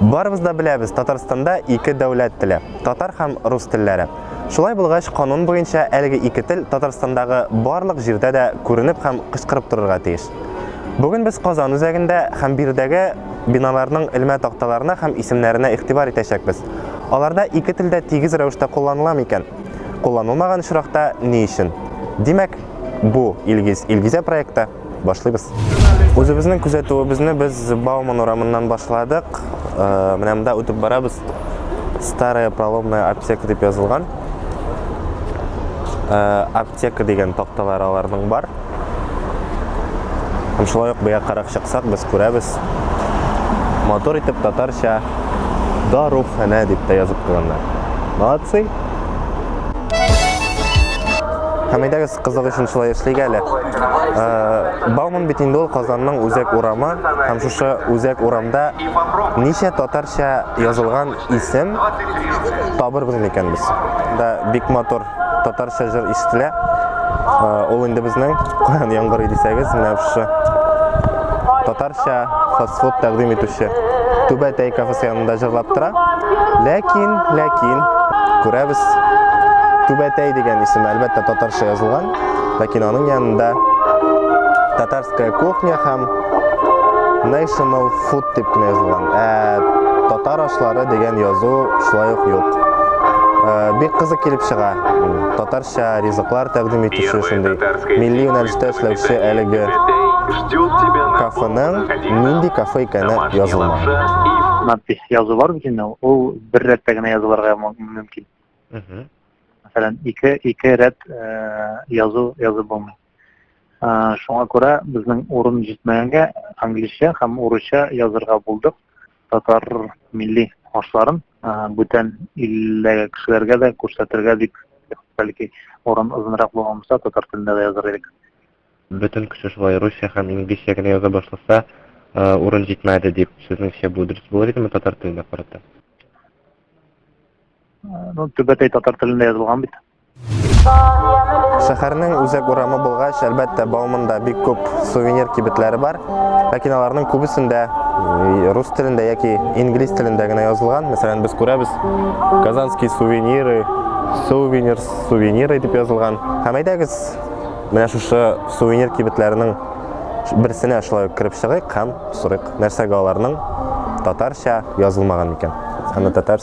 Барыбыз да беләбез, Татарстанда ике дәүләт теле, татар һәм рус телләре. Шулай булгач, канун буенча әлеге ике тел Татарстандагы барлык җирдә дә күренеп һәм кычкырып торырга тиеш. Бүген без Казан үзәгендә һәм биредәге биналарның элмә такталарына һәм исемнәренә игътибар итәчәкбез. Аларда ике телдә тигез рәвештә кулланыла микән? Кулланылмаган очракта ни өчен? Димәк, бу Илгиз, Илгизә проекты. Башлыйбыз. Үзебезнең күзәтүебезне без Бауман урамыннан башладык. Э, менә монда үтеп барабыз. Старая проломная аптека дип язылган. Э, аптека дигән такталар аларның бар. Һәм шулай ук бия карак чыксак, без күрәбез. Мотор итеп татарча дарухана дип тә язып куйганнар. Молодцы! Һәм әйдәгез Кызык өчен шулай эшлик әле. Э, Бауман бит инде ул Казанның үзәк урамы һәм шушы үзәк урамда ничә татарча язылган исем табырбыз микән без? Да бик матур татарча җыр ишетелә. Э, ул инде безнең Куян яңгырый дисәгез, менә шушы татарча фастфуд тәкъдим итүче Түбәтәй кафесы янында җырлап тора. Ләкин, ләкин, күрәбез, Түбәтәй дигән исем әлбәттә татарча язылган, ләкин аның янында татарская кухня һәм National Food дип кенә язылган. Ә татар ашлары дигән язу шулай ук юк. Ә, бик кызык килеп чыга. Татар ризыклар тәкъдим итүче шундый милли юнәлештә эшләүче әлеге кафеның нинди кафе икәне язылмаган. Надпись язу бар бит инде, ул бер рәттә генә язылырга мөмкин. Мәсәлән, ике ике рәт э, язу язып булмый. Шуңа күрә безнең урын җитмәгәнгә англичә һәм урысча язырга булдык татар милли ашларын бүтән илләге кешеләргә дә күрсәтергә дип бәлки урын озынрак булганмаса татар телендә дә языр идек. Бөтен кеше шулай русча һәм инглизчә генә яза башласа, урын җитмәде дип, сезнеңчә бу дөрес булыр идеме татар теленә карата? Ну, төбәтәй татар телендә язылган бит. Шәһәрнең үзәк урамы булгач, әлбәттә, Бауманда бик күп сувенир кибетләре бар. Ләкин аларның күбесендә рус телендә яки инглиз телендә генә язылган. Мәсәлән, без күрәбез Казанские сувениры, сувенир, сувениры дип язылган. Һәм әйдәгез, менә шушы сувенир кибетләренең берсенә шулай ук кереп чыгыйк һәм сорыйк, нәрсәгә аларның татарча язылмаган икән. Аны татар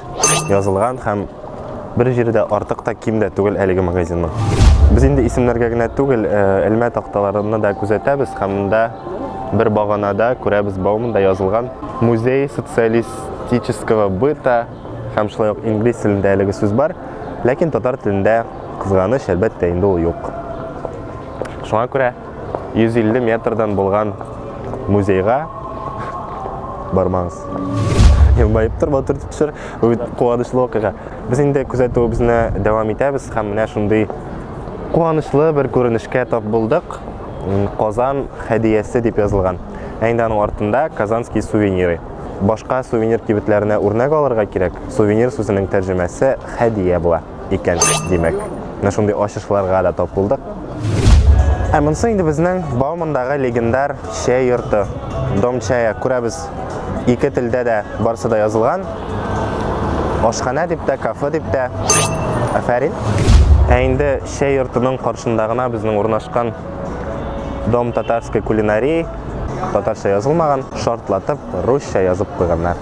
Язылган һәм бер җире дә артык та, ким дә түгел әлеге магазинның. Без инде исемнәргә генә түгел, э, элмә такталарына да күзәтәбез һәм монда бер баганада күрәбез Бауманда язылган Музей социалистического быта һәм шулай ук инглиз телендә әлеге сүз бар, ләкин татар телендә, кызганыч, әлбәттә, инде ул юк. Шуңа күрә 150 метрдан булган музейга бармаңыз. Елмаеп тор, батыр төшер. Бу бит куанычлы вакыйга. Без инде күзәтүебезне дәвам итәбез һәм менә шундый куанычлы бер күренешкә тап булдык. Казан хәдиясе дип язылган. Ә инде аның артында Казанский сувениры. Башка сувенир кибетләренә үрнәк алырга кирәк. Сувенир сүзенең тәрҗемәсе хәдия була. икән, димәк. Менә шундый ачышларга да тап булдык. Ә монысы инде безнең Баумандагы легендар чәй йорты. Дом чая күрәбез. Ике телдә дә барсы да язылган. Ашханә дип тә, кафе дип тә. Афәрин. Ә инде чәй йортының каршында гына безнең урнашкан Дом татарской кулинарии татарча язылмаган, шартлатып русча язып куйганнар.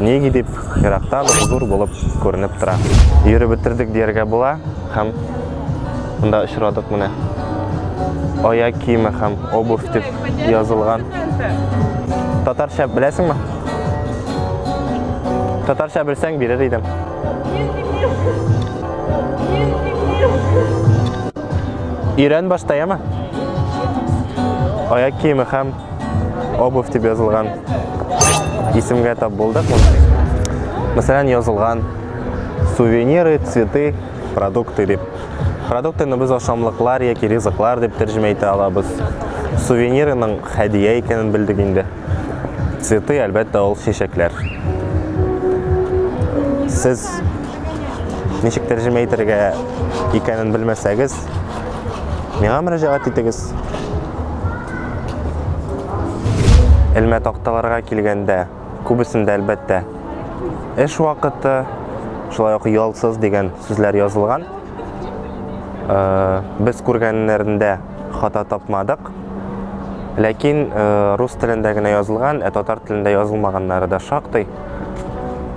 Нигә дип, еракта бер зур булып күренеп тора. Йөреп бетердек дияргә була һәм монда очрадык менә. Аяк киеме һәм обувь дип язылган. Татарча беләсеңме? Татарча белсәң бирер идем. Ирен баштаяма. Аяк киеме һәм обувь дип язылган исемгә тап булдык мәсәлән язылган сувениры цветы продукты дип продуктыны без ашамлыклар яки ризыклар дип тәрҗемә итә алабыз сувенирының хәдия икәнен белдек инде цветы әлбәттә ул чәчәкләр сез ничек тәрҗемә итәргә икәнен белмәсәгез Миңа мөрәҗәгать итегез. Элмә такталарга килгәндә, күбесендә әлбәттә эш вакыты, шулай ук ялсыз дигән сүзләр язылган. Э, без күргәннәрендә хата тапмадык. Ләкин э, рус телендә генә язылган, ә татар телендә язылмаганнары да шактый.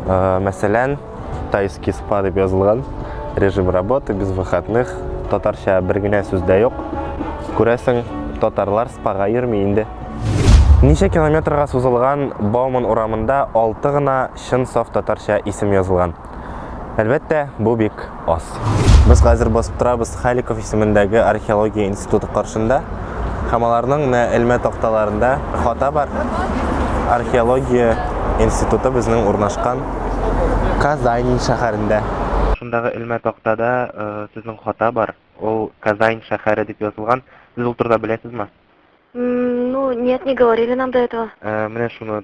Э, мәсәлән, Тайский спа дип язылган. Режим работы без выходных. Татарча бер генә сүз дә юк. Күрәсең, татарлар спага йөрми инде. Ничә километрга сузылган Бауман урамында алты гына чын саф татарча исем язылган. Әлбәттә, бу бик аз. куйдык. Без хәзер басып торабыз Халиков исемендәге археология институты каршында. Һәм аларның менә элмә такталарында хата бар. Археология институты безнең урнашкан Казань шәһәрендә. Шундагы элмә тактада сезнең хата бар. Ул Казань шәһәре дип язылган. Сез ул турыда беләсезме? Ну, нет, не говорили нам до этого. Менә шуны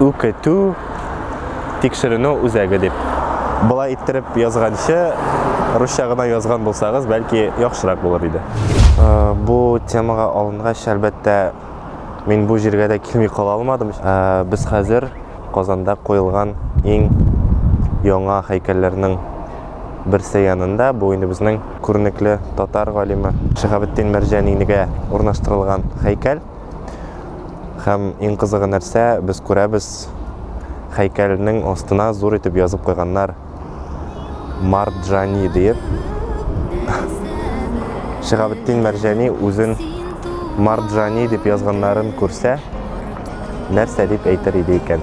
үкетү тикшеренү үзәге дип. Болай иттереп язганчы, русча гына язган булсагыз, бәлки яхшырак булыр иде. Бу темага алынгач, әлбәттә, мин бу җиргә дә килми кала алмадым. Без хәзер Казанда куелган иң яңа һәйкәлләрнең берсе янында. Бу инде безнең күренекле татар галиме Шиһабетдин Мәрҗанинигә урнаштырылган һәйкәл. Һәм иң кызыгы нәрсә, без күрәбез, хәйкәлнең астына зур итеп язып куйганнар Марджани диеп. Шиһабетдин Мәрҗани үзен Марджани дип язганнарын күрсә, нәрсә дип әйтер иде икән?